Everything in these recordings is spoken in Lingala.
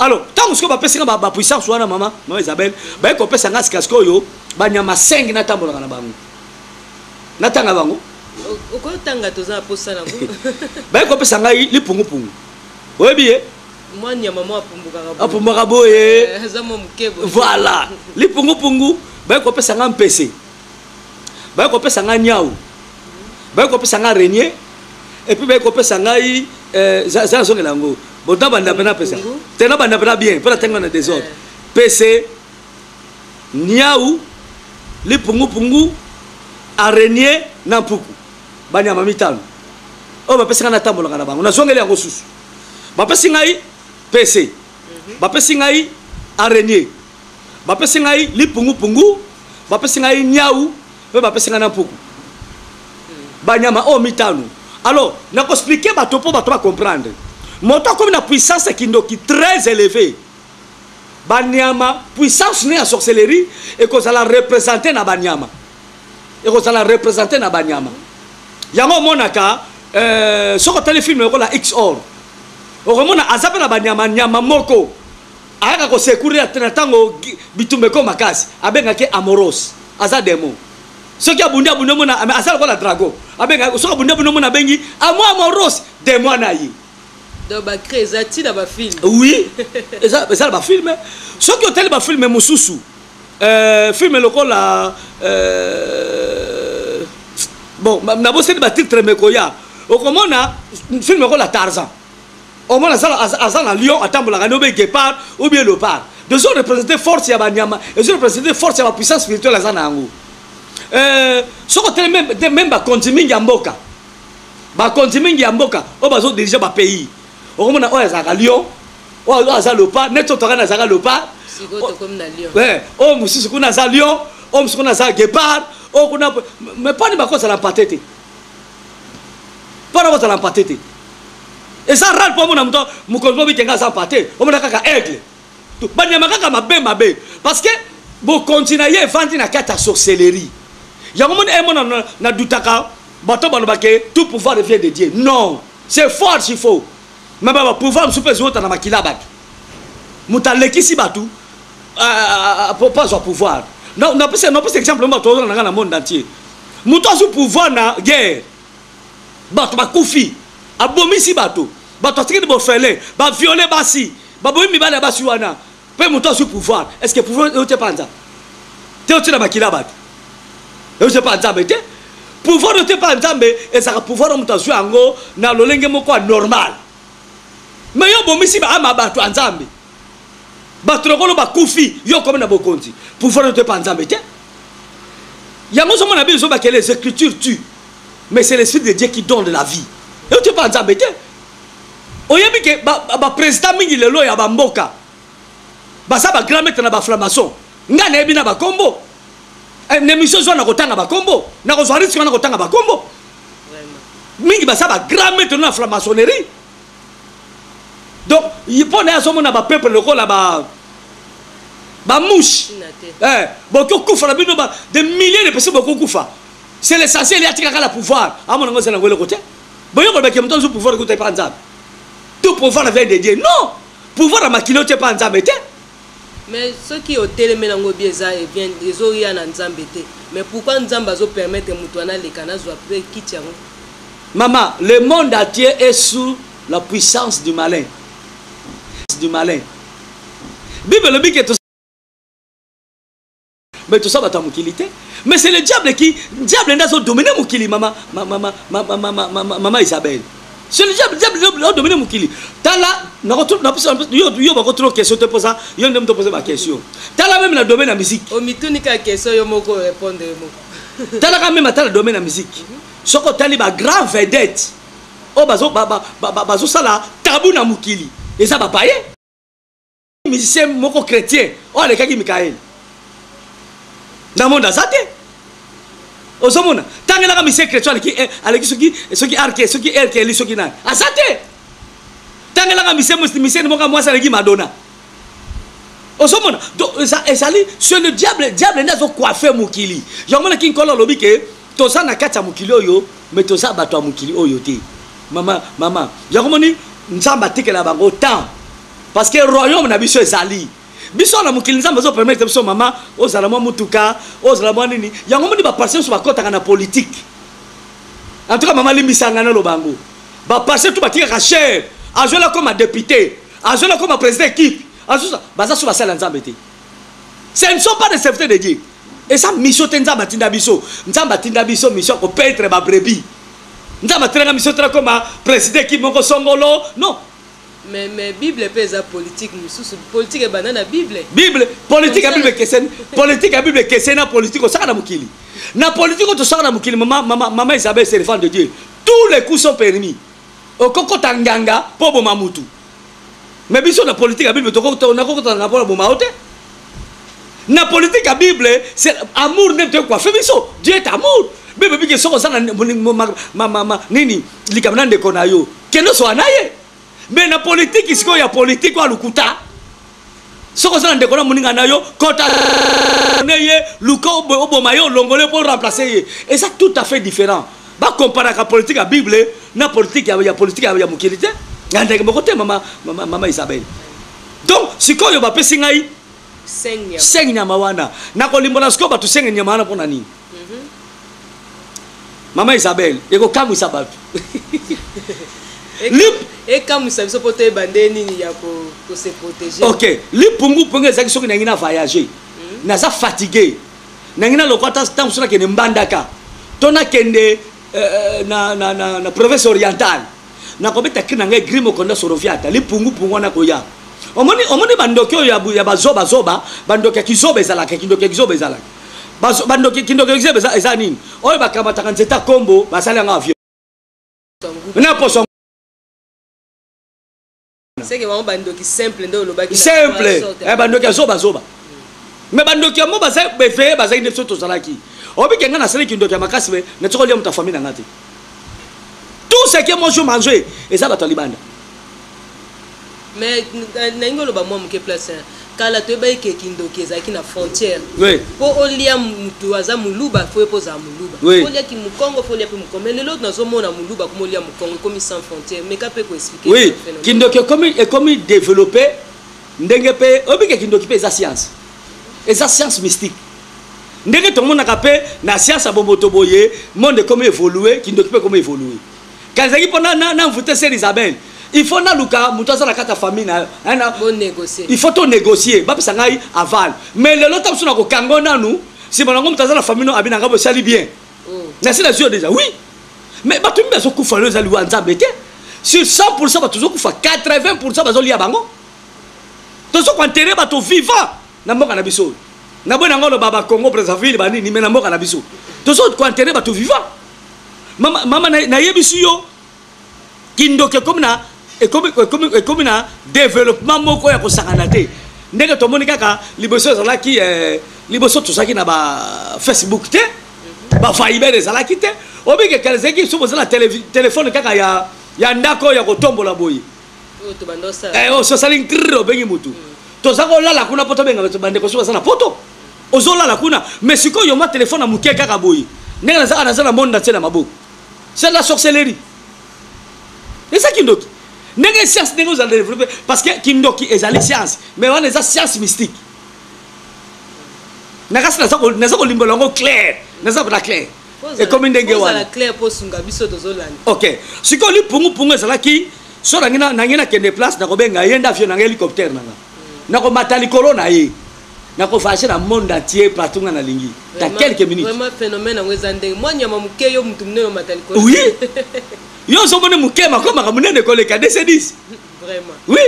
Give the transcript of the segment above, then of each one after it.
alors ntango sikoyo bapesi nga bapuissance wana mama mama isabelle baye kopesa nga sika sikoyo banyama 5 natambolaka na bango natanga bango okotanga toza na mposa nango baye kopesa ngai lipungupungu oyebi ye mwa nyama mwa apumbukaka boye apumbaka boye Eh, aza mwa moke boye voilà lipungupungu baye kopesa nga mpese baye kopesa nga nyau baye kopesa nga renie epuis baye kopesa ngai eh, za za nazongela yango bo nabanda mpe napesa Pungu. te nabanda mpe na bien mpo natangi na desordre Eh. pese nyau lipungupungu arenie na mpuku banyama mitano oyo bapesaka natambolaka na bango nazongeli yango susu bapesi ngai PC mhm. bapesi ngai araignée bapesi ngai lipungupungu bapesi ngai niau mpe bapesi ngai na mpuku hmm. banyama oyo oh, mitano alors nakoexplike bato mpo bato bacomprendre moto akomi na puissance ya kindoki très élevé banyama puissance ne ya sorcellerie ekozala représente na banyama ekozala represente na banyama yango omonaka euh, soki otali filme lokola x or okomona aza mpe na banyama nyama moko ayaka kosekurira na ntango bitumba eko makasi abengaki amoros aza demo soki abundi abundi omona aza lokola drago abengaki soki abundi abundi omona abengi amo amoros demo na ye donc bacré eza ntina bafilme oui eza na bafilme soki otali bafilme mosusu Euh, film lokola euh, bon naboseli batitre mekoya okomona film lokola tarzan omona aza na lion atambolaka nde obe guépard ou bien lopard ezo représente force ya banyama ezo représente force ya bapuissance spirituelle aza na yango euh, soki otele meme bakonzi mingi ya mboka bakonzi mingi ya mboka oyo bazodirige bapays okomona oyo azalaka lion oyo aza lopa neti otoka na azalaka lopa oyo mosusu kuna aza lion oyo mosusu kuna aza guepard oyo kuna me pani bakozala mpate te mpona kozala mpate te eza rare mpo omona moto mokonzi mobike nga aza mpate omona kaka aigle banyama kaka mabe mabe parce que bokonzi na ye evandi na kati ya sorcellerie yango moni emona eh, nadutaka bato balobake tout pouvoir vient de dieu non c'est faux archi faux me bapouvoir mosusu mpe eziwota na makila bato moto alekisi bato euh, euh, euh, po azwa pouvoir napesa exemple bato ozona na ngai na monde entier moto azwi pouvoir na guerre bato bakufi abomisi bato bato atikeli bofele baviole basi baboyi mibali ya basi wana mpe moto azwi pouvoir est ce que pouvoir euti epa nzambe te euti na makila ya bato euti epa nzambe te pouvoir euti epa nzambe ezalaka pouvoir moto azwi yango na lolenge moko ya normal me yo obomisi baama bato ya nzambe bato lokolo bakufi yo okomi na bokonzi pouvoir euti epa nzambe te yango ozomona bino ezobakela les écritures tu mais c'est l'esprit de dieu qui donne la vie euti epa nzambe te oyebi ke ba, ba, ba president mingi lelo ya ba mboka baza ba grand maître na ba franc-maçon nga nayebi na ba kombo eh, na emission zwa na kotanga ba kombo na kozwa risque wana kotanga ba kombo mingi baza ba grand maître na franc-maçonnerie donc mpo na ye azomona ba peuple lokola ba ba mouche eh, bokokufa na bino ba des milliers de personnes bokokufa c'est l'essentiel ya tikaka la pouvoir amonango eza nango eloko te Boye koloba ke moto azwi pouvoir ekuta epa Nzambe? To pouvoir vient de Dieu? Non! Pouvoir ya makila otia epa Nzambe te. Mais soki otelemi nango bien eza ezo ya na Nzambe te mais pourquoi Nzambe azo permettre mutu wana aleka nazwa pe kiti yango? Maman, le monde entier est sous la puissance du malin. Du malin. Bible elobi ke mais toza bato ya mokili te mais c'est le diable qui diable nde azodomine mokili mama mama isabelle c'est le diable diable nde adomine mokili tala yo bakotuna question te mpoza yo nde moto opoze baquestion tala meme na domaine ya musique omituni ka question yo moko orépondre yo moko talaka meme ata na domaine ya musique soki otali bagrand vedette oyo bazosala tabu na mokili eza bapaye musicien moko chrétien oyo alekaki mikaele na monde aza te ozomona tangelaka musicien chrétien aleki eh, aleki soki soki arke soki erkeli soki nani aza te tangelaka musicien moko mwasi aleki madonna ozomona ezali sur le diable diable nde azokoife mokili yango monaki nkolo alobi ke toza na kati ya mokili oyo me toza bato ya mokili oyo te mama mama yango moni nzambe atikela bango temps parce que royaume na biso ezali biso na mokili nzambe azo permettre biso mama ozala mwa motuka ozala mwa nini yango moni baparse biso bakɔtaka na politike en tout cas mama limbisa ngai naloba yango baparse tu batikaka chere azweli akoma député azweli akoma président équipe baza so basala nzambe te ce ne sont pas des serviteurs de dieu eza mission te nzambe atinda biso nzambe atinda biso mission ya kopetre babrebi nzambe atinaka mission te nakoma président équipe moko songolo non Mais mais bible pe eza politique mususu politique ebanda na bible. Bible politique ya bible keseni politique ya bible keseni na politique osaka na mokili na politique oto saka na mokili mama mama mama Isabelle c'est le fan de Dieu tous les coups sont permis okokota nganga po boma mutu mais biso na politique ya bible tokokota na kokota nganga po boma ote na politique ya bible c'est amour nde toye koafe biso dieu est amour bible bike soki oza na nini likambo na ndeko na yo kende osola na ye me na politiki sikoyo ya politiki oyo alukuta soki oza na ndeko na moninga na yo kota ne ye luka oboma ye olongole mpo oremplace ye eza tout à fait différent bakomparaka politike ya bible na politike ya politike ya mokili te ya ndenge moko te mama, mama, mama isabele donc sikoyo bapesi ngai senge nyama wana nakolimbola sikoyo bato senge nyama wana mpo na nini mama isabelle ekokamwisa bato ekamwisa biso mpo toyeba nde nini ya kose protege ok lipungupungu ezalaki soki nangi na voyage hmm? naza fatigue nangi na lokwa ata ntango so nakende mbandaka to nakende euh, na, na, na, na province orientale nakobeta kri na ngai gri mokonda soroviata lipungupungu wana koya omoni omoni bandoki oyo ya bazobazoba bandoki ya kizoba ezalaka kindoki ya kizoba ezalaka bazo bandoki kindoki exebe eza eza nini oyo bakamataka nzeta kombo basali yanga avion na poso seke bango bandoki simple nde olobaki simple eh, bandoki ya zoba zoba me bandoki yango baza beveye bazali nde biso tozalaki obike ngai nasali kindoki ya makasi me natiki olia moto ya famille na ngai te tout ce que moi je mange eza bato ya libanda Mais nalingi oloba mwa moke place hein. kala toyebaki ke kindoki ezalaki na frontière oui. mpo olia motu aza muluba fo ye mpo ozala muluba oui. olia kimukongo fo olia mpe mukongo mais lelo nazomona muluba kuma olia mukongo ekomi sans frontière meka mpe koexplike oui. kindoki ekomi, ekomi développe ndenge mpe obike kindoki mpe eza science eza science mystique ndenge tomonaka mpe na science ya bomoto boye monde ekomi évolue kindoki mpe ekomi évolue kala ezalaki mpo na, na, na envoute sœur isabelle il faut naluka moto aza na kati ya famille na il faut to négocier bapesa ngai aval mais lelo ntango mosusu nakokanga o nanu nsima nango moto aza na famille no abina ngai bosali bien oh. nasi nazwi yo déjà oui mais bato mimi bazokufa lelo eza liwa nzambe te sur 100 pourcent bato tozokufa 80 pourcent bazolia bango tozokoentere bato vivant na mboka na biso oyo naboyi nango oloba bakongo brazzaville banini me na mboka na biso tozokoentere bato vivant mama mama na yebisi yo kindoki ekomi na ekomi ekomi ekomi na développement moko ya kosangana te ndenge tomoni kaka liboso ezalaki eh, liboso tozalaki na ba facebook te ba viber ezalaki te obike kala ezalaki biso boza na telefone kaka ya ya ndako ya kotombola boye eh, ososali oh, ntrr obengi motu mm. toza kolala kuna po tobenga bandeko soki baza na poto ozolala kuna mais sikoyo yo mwa telefone ya moke kaka boye ndenge nazaka naza na monde natie na maboko c'est de la sorcellerie eza kindoki ndenge science ndenge ozala développe parce que kindoki ezali science mais wana eza science mystique na kasi naza kolimbola yango claire naza na claire ekomi ndenge wana ok sikoyo lipungupungu ezalaki so nangi nakende place nakobenga ye nde avio nanga hélicoptère nanga nako mata likolo na ye nako voyage na monde entier partout nga nalingi ta quelques minutes vraiment phénomène yango eza ndenge mwa nyama moke yo mutu munene omata likolo oui yo ozomoni moke makomaka munene koleka dc 10 vraiment oui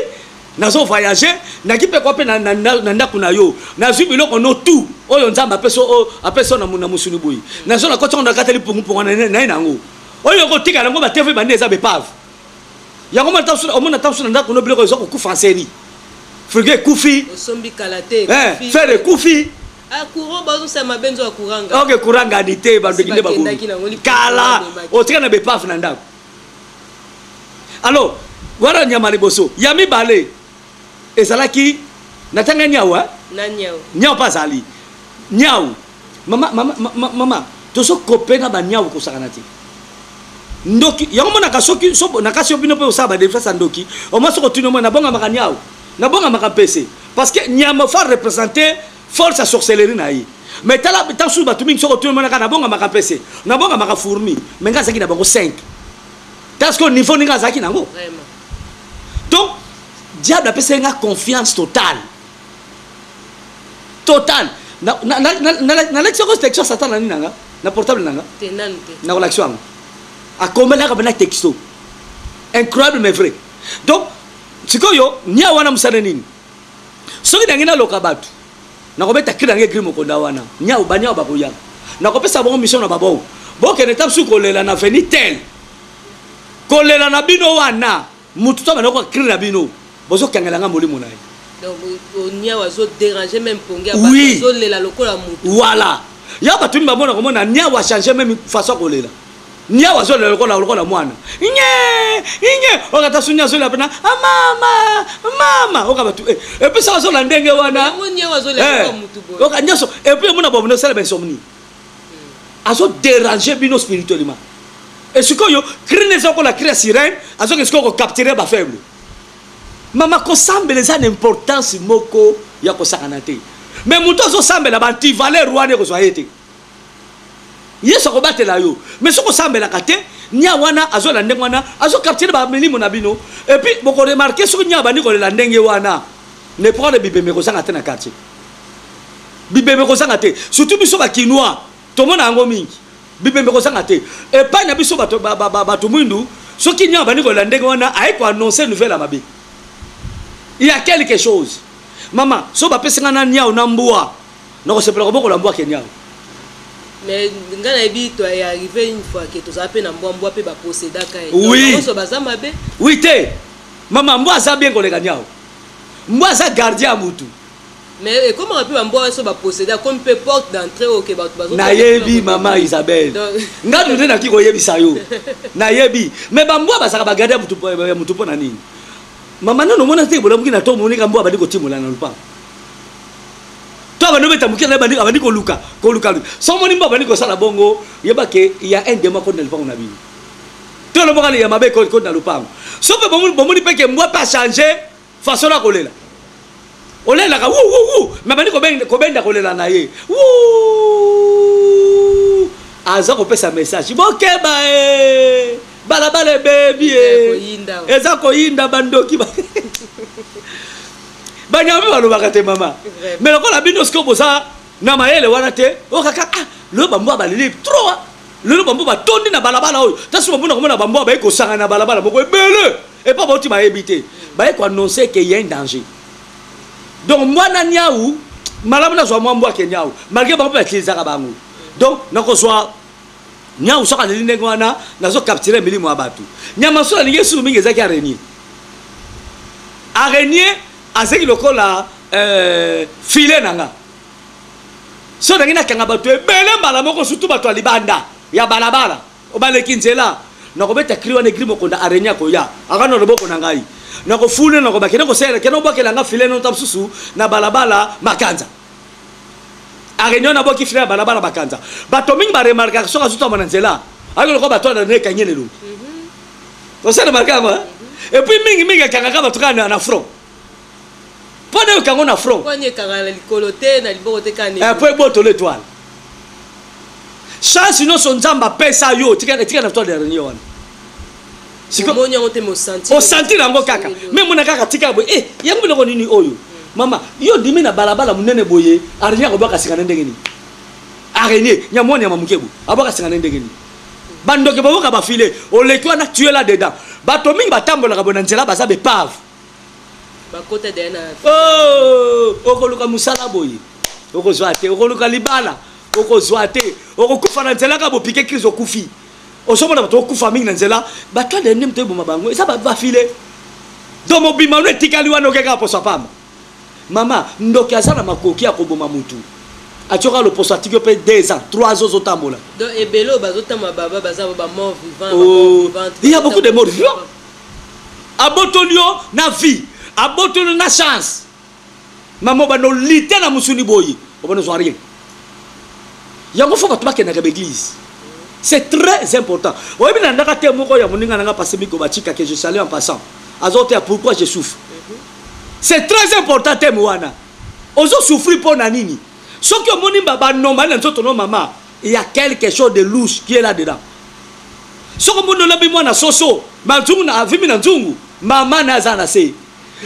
nazo voyage naki mpe kwa mpe na ndako na yo nazwi biloko no tout oyo nzambe apesi apesi na muna mosuni boye nazo na koti yango nakatali pungupungu na ye na yango oyo okotika yango batevi bande eza bepave yango mwana ntango soki omona ntango soki na ndako no biloko eza kokufa nseri frigo ekufi osombi kala te eh, fere ekufi ah, courant bazosala mabe nzo ya kuranga ok kuranga ni te bandoki nde babomi kala otika na bepave na ndako alors wana nyama liboso ya mibale ezalaki na tanga nyau eh? na nyau nyau mpe azali nyau Mama, mama, mama, mama, tozo kope na baniawu kosakana te. Ndoki, yango mona kasoki, so, na kasi yo bino pe osaba ba defense ndoki, au moins soko tuno mona bonga maka niawu, na bonga maka pese. Parce que niama fa représenter force à sorcellerie na ye. Mais tala tant sous batu mingi soko tuno mona ka na bonga maka pese, na bonga maka fourni, mais nga zaki na bango 5. Parce que niveau ninga zaki nango. Vraiment. Donc, diable a pesé nga confiance totale. total nalakisi yoko texto ya satana nini nanga na portable nanga nakolakisi yango akomelaka mpena texto incroyable mais vrai donc sikoyo nia wana mosala nini soki nange naloka bato nakobeta kri nange gri mokonda wana niau baniau bakoya nakopesa bango mission na babongo bokende ta mosusu kolela na veni tel kolela na bino wana Mutu to abanda ko crie na bino bozo kangela nga molimo na ye. Donc onia wazo déranger même pongi ya bato azo lela lokola mutu. Voilà. Ya bato ni bamona komona nia wa changer même façon ko lela. Nia wazo lela lokola lokola mwana. Nye! Nye! Okata sunya azo lela pena. Ah mama! Mama! Oka bato eh. Et puis ça wazo la ndenge wana. Oka nia wazo lela lokola mutu boye. Oka nyaso. Et puis mona bobo no sala ba insomnie. azo déranger bino spirituellement et sikoyo cri neza kola cri ya sirène azoke sikoyo ko capturer ba faible mama kosambela eza na importance moko ya kosakana te mais moto azosambela bantivaler wana ekozwa ye te yesu akobatela yo mais soki osambelaka te nia wana azo na ndenge wana azo capturer ba milimo na bino et puis boko remarquer soki nia bandi kolela ndenge wana ne prendre bibembe kozanga te na quartier bibembe kozanga te surtout biso ba kinois tomona yango mingi bibembe kozanga te epai na biso bato ba, ba, ba, ba, mwindu soki nyama bandi kolela ndenge wana aye koannonce nouvelle ya mabe ya quelque chose mama so bapesi ngai na niao na mbwa nakosepela kobokola mbwa ke niao mais ngai nayebi to ya arrive une fois ke tozala mpe na mbwa mbwa mpe baposedaka ye oui. baza mabe oui te mama mbwa aza bien koleka niao mbwa aza gardien ya motu Mais ekomaka pe ba mbwa wana so ba possede akomi pe porte d'entree oyo ke bato bazo. Nayebi mama Isabelle. Nga nde naki koyebisa yo. Nayebi. Mais ba mbwa bazaka ba garde ya mutu ya mutu pona nini? Mama nano mona te bolamuki na to moni ka mbwa bandi kotimola na lupango. To bandi obeta mukila na bandi bandi koluka koluka. So moni mbwa bandi kosala bongo yeba ke il y a un démon kodi na lupango na bino. To loboka ya mabe kodi na lupango. Soki bomoni bomoni pe ke mbwa pe a changer Façon na kolela. Olelaka wou wou wou mais bandi kobenda kobenda kolela na ye. Wou! Aza kopesa message. Bokeba eh! Balabala ebebi eh! Eza koyinda bandoki ba banyama balobaka te mama mais lokola bino sikoyo boza na mayele wana te okaka ah, lelo bambwa baleli trop ah. lelo bambwa batondi na balabala oyo ntanso bamona komona bambwa baye kosangana na balabala moko ebele epa bauti bayebi te baye koannonce ke ya un danger donc mwana niau malamu nazwa mwa mbwa ke niau malgre bango mpe batilisaka bango donc nakozwa niau soki aleli ndenge wana nazo capture milimo ya bato nyama so nalingi esuru mingi ezaki arenie arenie Azeki lokola euh, filet na nga. So nangi na kanga bato ebele mbala moko surtout bato ya libanda ya balabala obaleki nzela nakobeta cri wana egri mokonda araigne akoya aka na loboko na ngai nakofule nakoba kende kosela kende obwakela nga filet nota mosusu na balabala makanza araigne na bwaki filet ya balabala makanza bato mingi baremarkaka soki azutama na nzela ayo lokola bato ya na ekangi elelongi osana makambo hein? et puis mingi mingi akangaka bato kaka na front mpo na yoka yango na front mpo ebotolo etoile chance nyonso nzambe apesa yo tika na toi dernier wana osantir yango kaka me mona kaka tika boye e yango biloko nini oyo hmm. mama yo ndimi na balabala monene boye arnie akobwaka sika na ndenge nini arenie nyamwani ya mamoke boye abwaka sika na ndenge nini bandoki boboka bafile oleki wana tue la dedans bato mingi batambolaka boye na nzela baza bepave oh, okoluka mosala boye okozwa te okoluka libala okozwa te okokufa na nzela kaka bopike crise okufi ozomona bato okufa mingi na nzela bato adende moto eboma bango eza bafile do mobimano etikali wana okekaka poso apamba Maman ndoki aza na makoki ya koboma mutu atioki ya loposo atiki yo pe deux ans trois ans ozo tambola Donc ebele oyo bazo tambola baba baza ba mort vivant ba mort oh, vivante. Il y a beaucoup de morts vivants. Abotoli yo na vie, abotoli yo na chance. Maman obanda olite na musuni boye, obanda ozwa rien. Yango fo bato bakendaka ba église. C'est très important. Oyebi na ndaka te moko ya moninga na nga passé miko batika que je salue en passant. Azo te pourquoi je souffre. C'est très important thème wana. Ozo souffrir pour na nini? Soki omoni mbaba nomba na nzoto no mama, il y a quelque chose de louche qui est là dedans. Soki omoni olabi mwana soso, ma nzungu na avimi na nzungu, mama na aza na se.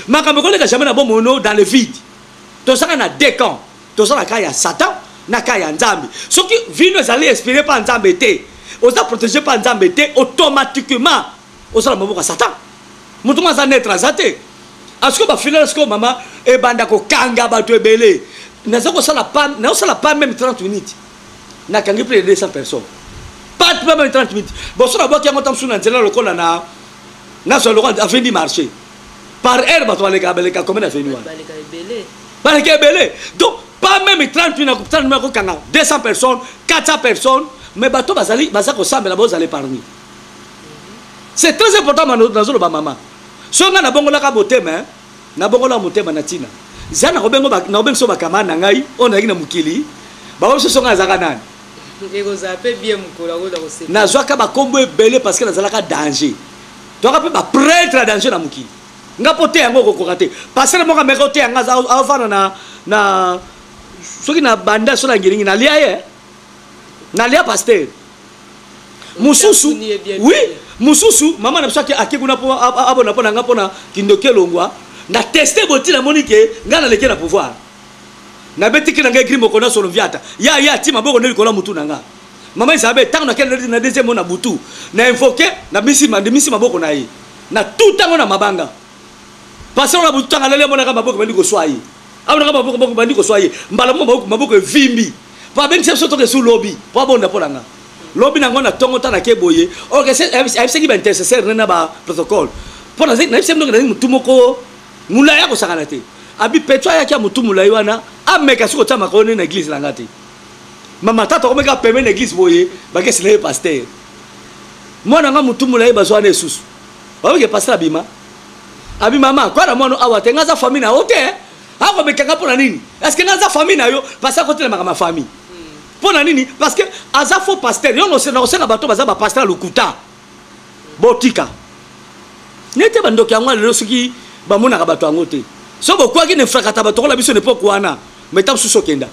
Makambo ekoleka jamais na bomoi no dans le vide. Tozaka na deux camps. Toza na cas ya Satan na cas ya Nzambe. Soki vino ezali inspiré par Nzambe te, oza protégé par Nzambe te, automatiquement oza na maboko ya satan moto ngo aza netre aza te asiko ah, bafinale sikoyo mama ebanda kokanga bato ebele naza kosala pa naosala pa meme 30 minutes nakangi plus de 200 personnes pas pa meme 30 minutes boso nabwaki yango ntango mosusu na nzela lokola na nazwa lokola avendi marché par heure bato baleka baleka combien aveni wana baleka ebele donc pas meme 30 minutes nakokutana nakokanga 200 personnes 400 personnes mais bato bazali baza kosambela bozala épargne c'est très important mano nazoloba mama soki ngai nabongolaka motema eh, nabongolaka motema na ntina za nakobengiso bakamane na ngai oyo nazalaki na mokili bango biso so ngai azalaka nani nazwaka bakombo ebele parce que nazalaka danger toyaka mpe bapretre ya danger na mokili nga mpo te yango okokoka te pasere moko ameka oteya nga avanda na soki na banda so na ngilingi nalia ye nalia pasteur mosusu oui mosusu mama na biso ake kuna mpo abona mpo na nga mpo na kindoki elongwa na teste boti namoni ke ngai naleki na pouvoir nabetiki na ngai gri moko na solo viata ya ya ti maboko nde likolo ya motu na nga mama isabe ntango nakende na deuxième mo na butu na invoke nabimisi maboko na ye na tout ntango na mabanga pasolo na butu ntango alali amonaka maboko bandi koswa ye amonaka maboko bandi koswa ye mbala mo maboko evimbi po abengisa biso toke su lobi po abonda mpo na nga lobi nango na ntongo ntango nake boye ayebisaki baintercesseur ne na baprotocole mpo nayebisaki ndoki nazali motu moko molai akosakana te abi petro ayaki ya motu molai wana ameka soki otya makolo ne na eglize na nga te mama tata okomeka peme na eglize boye bakesi na ye paster mwana nga motu molai bazwa wana esusu oyoke paster abima abi mama kwa na mwana awa te nga aza famille na yo te akomeka nga mpo na nini est ce que naza famille na yo parce akotelemaka ma famille mpo na nini parce que aza faux pasteur yo nakosenga bato baza bapasteur ya lokuta botika nete bandoki yango lelo soki bamonaka bato yango te so bokwaki na efrakata bato kola biso na epoke wana meta mosusu okenda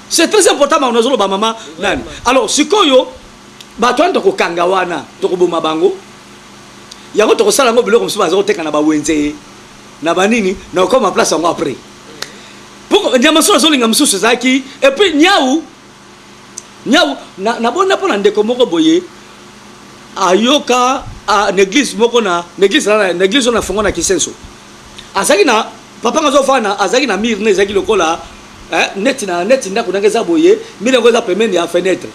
c'est très important makono azoloba mama nani alors sikoyo bato wana tokokanga wana tokoboma bango yango tokosala yango biloko mosusu baza koteka na bawenze na banini na okoma place yango après poko nyama so azolinga mosusu ezalaki epuis nyau nyau nabonda mpo na ndeko moko boye ayoka na eglise moko na eglise na eglise oyo nafongo na kisenso azalaki na papa nga azofana azalaki na mire ne ezalaki lokola eh, neti na neti ndako ndenge eza boye mire yango eza pembeni ya fenetre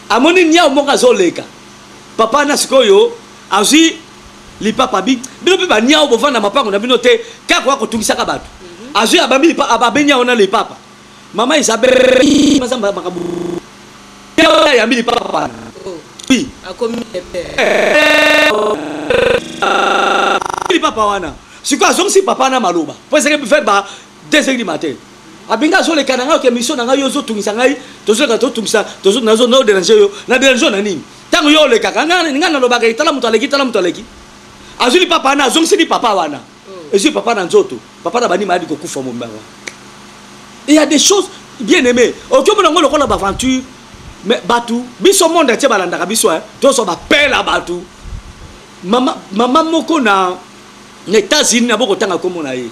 amoni nyau moko azoleka papa na sikoyo azwi lipapa bi bino mpe baniao bovanda mapango na bino te kaka koya kotungisaka bato mhm. azwi abambi ababe niao na lipapa mama isabelmazamba makambo ayambi lipapa lipapa wana sikoyo azongisi papa na maloba mpo ezalaki fe ba desegli matin abenga azoleka na ngai oke mission na ngai yo ozotungisa ngai tozoleka totungisa nazo naoderange yo na derange yo na nini Tango yo olekaka nga nga nalobaka ye tala moto aleki tala moto aleki azwi lipapa wana azongisi lipapa wana oh. ezwi papa na nzoto papa na banima ayadi kokufa mombawa il y a des choses bien aimé oki omona yango lokola baaventure mais bato biso monde atie balandaka biso eh. tozwa bapela bato mama, mama moko na na états-unis na bokotanga nkombo na ye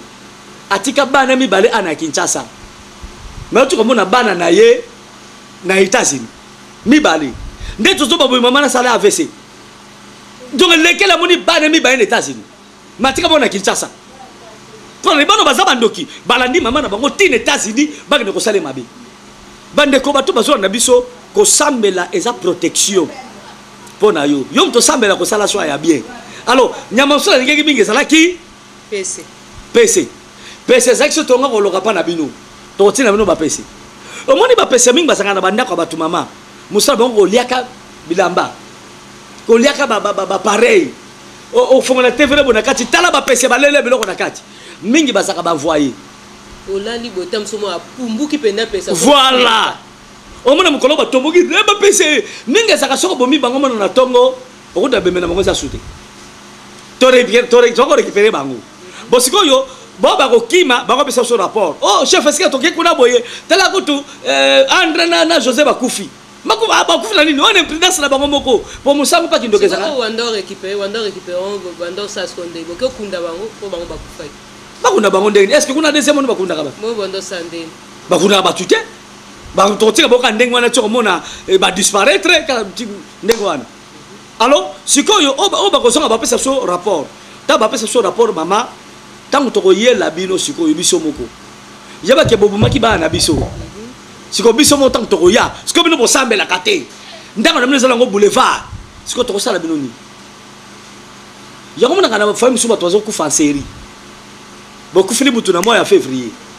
atika bana mibale ana ya kinshasa mais otika omona bana na ye na états-unis mibale nde tozoba boye mama nasala avc donc lekele amoni bana mibale na états-unis matika bango na kinshasa mpona libano baza bandoki balandi mama na bango ti na états-unis bakende kosala mabe bandeko bato bazolanda biso kosambela eza protection mpo na yo yo moto osambela kosala swa ya bien alors nyama mosusu alingaki mingi ezalaki Pese. Pese. Pese ezalaki soki tonga koloka pa na bino. Tokotinda bino ba pese. Omoni ba pese mingi bazalaka na ba ndako ya batu mama. Musala bango koliaka bilamba. Koliaka ba ba ba pareil. Ofongola TV na bona kati tala ba pese balele biloko na kati. Mingi bazalaka ba voyer. Olali boye ta musomo apumbuki penda pesa. Voilà. omona mokolo batomboki eh, bapese mingi ezalaka soko bomi bango mona na ntongo okuta bembe na bango eza sute toko récupere bango bo sikoyo bo bakokima bakopesa biso rapport o oh, chef esika toke kuna boye tala kutu eh, andre na, na josé bakufi ah, bakufi na nini wana imprudence na bango moko po mosango mpa kindoki ezalaka bakunda bango ndenge est ce que kuna deuxième oni bakundaka bato bakundaka bato te Ba tokotika boka ndenge wana toko mona eh, ba disparaître ndenge wana. Alors sikoyo oyo bakozonga bapesa so rapport. Ta bapesa so rapport mama tango tokoyela bino sikoyo biso moko. Yeba ke bobumaki bana na biso. Sikoyo biso moko tango tokoya. Sikoyo bino bosambelaka te. Ndako na bino ezala ngo boulevard. Sikoyo tokosala bino nini? yango monaka na famille mosusu bato bazokufa en série bokufili butu na mois ya février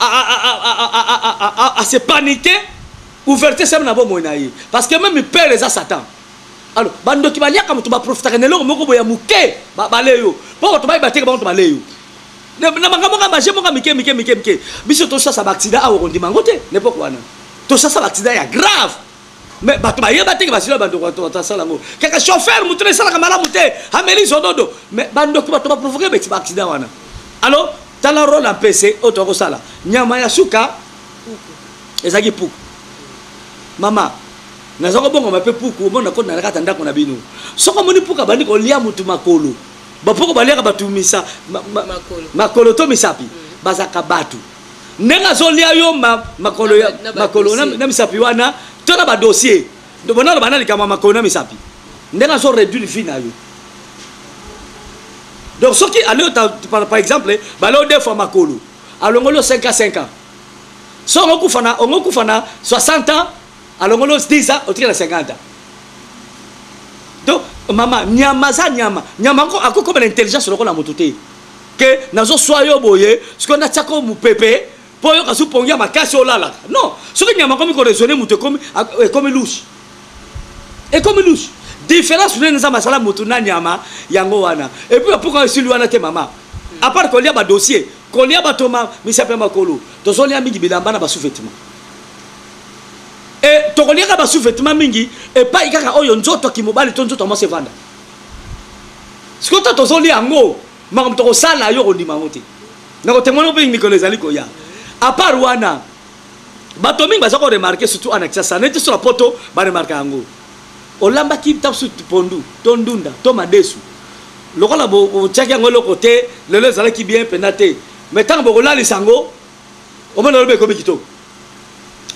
à se paniquer ouverture sema na bomoi na ye parce que meme père eza satan alors bandoki baliaka moto baprofitaka na eloko moko boye ya moke babale yo mpo bato bayeba teke bango to bale yo na makambo nga baje moka mike mike mike mike biso tosasa baaccident awa okondima yango te nepoke wana tosasa baaccident ya grave mais bato bayeba te ke basila bandoki bato bato asala yango kaka chauffeur moto na esalaka malamu te ameli zododo mais bandoki bato baprovoke beti baaccident wana alors tala role ya mpese oyo toya kosala nyama ya suka ezalaki puku mama naza kobongama mpe puku omoni nakoti na nakata ndako na bino soki omoni puku abandi kolia motu makolo bapoko baliaka bato misa makolo to misapi mm. bazalaka bato ndenge azolia yo makolo makolo na misapi wana to na badossier bona loba na likambo ya makolo na misapi ndenge azo réduire vie na yo donc soki alo par exemple baleo deux fois makolo alongoli yo 5 ans 5 ans so ongokufa na ongokufa na 60 ans alongoli yo 10 ans otikala 50 ans donc mama nyama aza nyama nyama akokomela intelligence lokola moto te que nazo swa yo boye sikoyo natia ko mupepe po yo kasu pongi ya makasi olalaka non soki nyama akomi ko raisonner mutu ekomi ekomi louche ekomi louche différence nene nzambe asala mutu na nyama yango wana epuis bapuka esili wana te mama apart kolia badossier kolia bato ma misapi ya makolo tozolia mingi bilamba na basouvetement e eh, tokoliaka basouvetement mingi epai kaka oyo nzoto ya kimobali to nzoto ya mwasi evanda sikoyo to tozolia yango Makambo tokosala yo okondima yango te. Nakotemoigne mpe mikolo ezali koya. A part wana, bato mingi baza ko remarquer surtout ana Kinshasa, neti so na poto ba remarquer yango. Olambaki ntango mosusu pondu to ndunda to madesu lokola botiaki yango eloko te, lelo ezalaki bien mpenza te, mais ntango bokolalisa yango omoni olobi ekomi kitoko.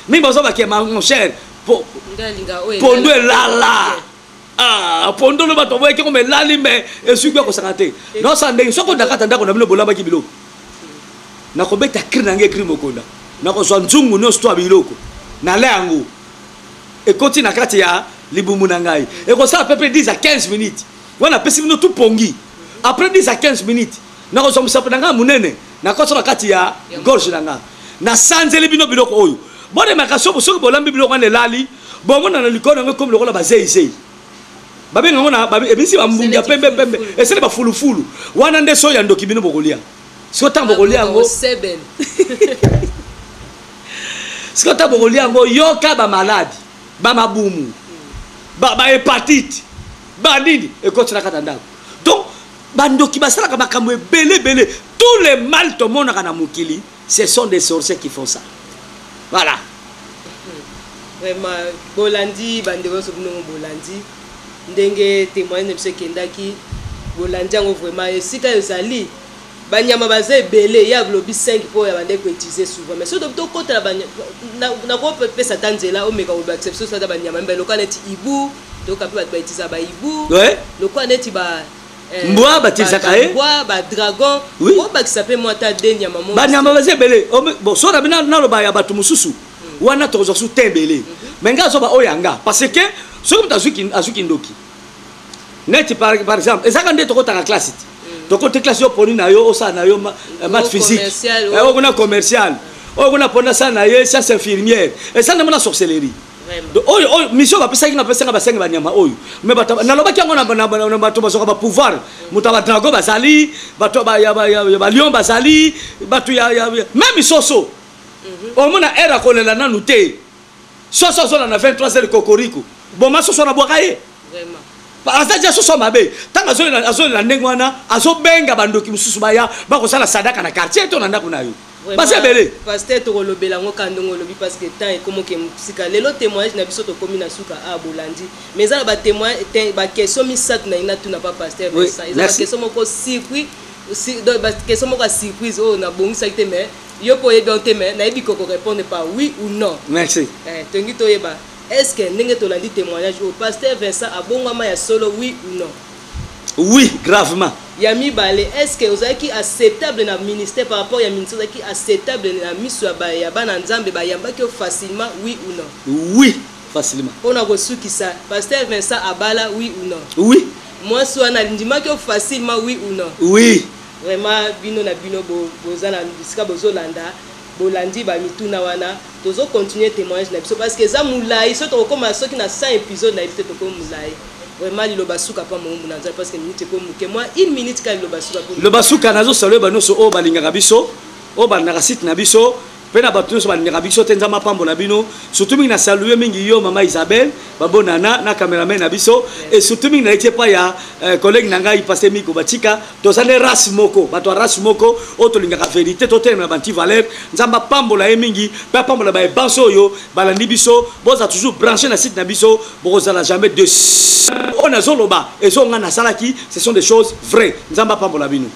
Mingi bazobaki mon cher pondu elala. Ah, pondo loba to boyeke koma elali me ezwi kuya kosaka te naosala ndenge soki odakata ndako na bino bolambaki biloko nakobeta kri na ngai ekri mokonda nakozwa nzungu nyonso to ya biloko nala yango ekoti na kati ya libumu na ngai ekosala pepe 10 a 15 minutes wana apesi bino tu pongi après 10 a 15 minutes nakozwa mosapo na ngai monene nakosa na kati ya gorge na ngai nasanzeli bino biloko oyo bolemaka soki bolambi biloko wana elali bomona na likolo yango ekomi lokola bazeizei babenga yango na ebisi bambungi ya pembe pembe esali bafulufulu wana nde soya ndoki bino bokolia siko ntango bokolia yango siko ntango bokolia yango yoka bamaladi bamabumu bahepatite banini ekoti na kati ya ndako donc bandoki basalaka makambo ebele ebele tous les mal tomonaka na mokili Ce sont des sorciers qui font ça. Voilà. Vraiment, bolandi bande boso bino bolandi ndenge témoignage na biso ekendaki bolandi yango vraiment esika ezali banyama baza ebele ya lobi 5 mpo ya bandeki koutilize souvent mais soki tokotela nakopesa ata nzela omeka kobakisa biso sata banyama mba lokola neti ibu toyoka mpe bato bautiliza baibu lokola neti Eh, mbwa batilisaka ye mbwa ba dragon oui. obakisa mpe mwa ta de nyama mo banyama baza ebele so na bino naloba ya bato mosusu mm. wana tokozwa su te ebele mm -hmm. me ngai azoba oyo ya nga parce que soki moto azwi kindoki neti par exemple ezaka nde tokotaka classe te mm. tokoti classe yo poni na yo osala na yo eh, mat physique eh, oyo kuna commercial oyo kuna pona sala na ye science infirmière esala na mona sorcellerie oyo oyo mission bapesaki nga pesa nga basengi banyama oyo mais bato nalobaki yango na bato bazwaka bapouvoir moto ya badrago bazali bato ya balion bazali bato ya meme soso mhm. omona aire akolela nanu te soso azola na 23 heures kokoriko boma soso nabwaka ye aza ja soso mabe ntango azolela ndenge wana azobenga bandoki mosusu baya bakosala sadaka na quartier to na ndako na yo baza ebele pasteur tokolobela yango ka ndenge olobi parce que temps ekomoke mosika lelo témoignage na biso tokomi na suka a ah, bolandi mais eza na ba témoignage ba question misato na ina tuna pa pasteur Vincent eza ba question moko surpris ba question moko surprise oyo oh, na bongisaki te mais yo po oyebi te mais nayebi koko répondre par oui ou non merci eh tongi toyeba est-ce que ndenge tolandi témoignage oyo oh, pasteur Vincent abongama ya solo oui ou non Oui gravement. Ya mibale est ce que ozalaki acceptable na ministère par rapport ya ministère ozalaki acceptable na misu ya ba ya bana nzambe ba yambaki yo facilement oui ou non. Oui facilement. Pona ko sukisa pasteur Vincent abala oui ou non. Oui. Mwasi wana alindimaki yo facilement oui ou non. Oui. Vraiment bino na bino bo boza na bisika bozo landa bolandi ba mituna wana. Tozo continuer temoignage na biso parce que eza mulayi soki toko koma soki na 100 episode na yebi te tokomi mulayi vraiment liloba suka pa mowumbu na nzambe parce que minute ekomi muke mua une minute kaka liloba suka ekomi liloba suka nazo salue ba nioso oyo balingaka biso oyo balingaka site na biso mpe na bato nyonso balingaka biso te nzambe apambola bino surtout mingi na salue mingi yo mama isabelle babonana na cameraman na biso et surtout mingi naleki epai ya euh, collègue na ngai paste miko batika toza nde race moko bato ya race moko oyo tolingaka verité totelemela banti valeur nzambe apambola ye mingi mpe apambola baye banso oyo balandi biso boza toujours branche na site na biso bokozala jamais de oyo nazoloba ezo ngai nasalaki ce sont des choses vraies nzambe apambola bino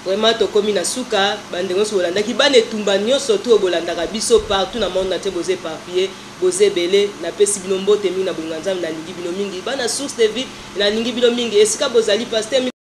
vraiment tokomi na suka bandeko nyonso bolandaki bana etumba nyonso to bolandaka biso partout na monde natie boza éparpillé boza ebele napesi bino mbote mingi na bolinga nzambe nalingi bino mingi bana source de vie nalingi bino mingi esika bozali paster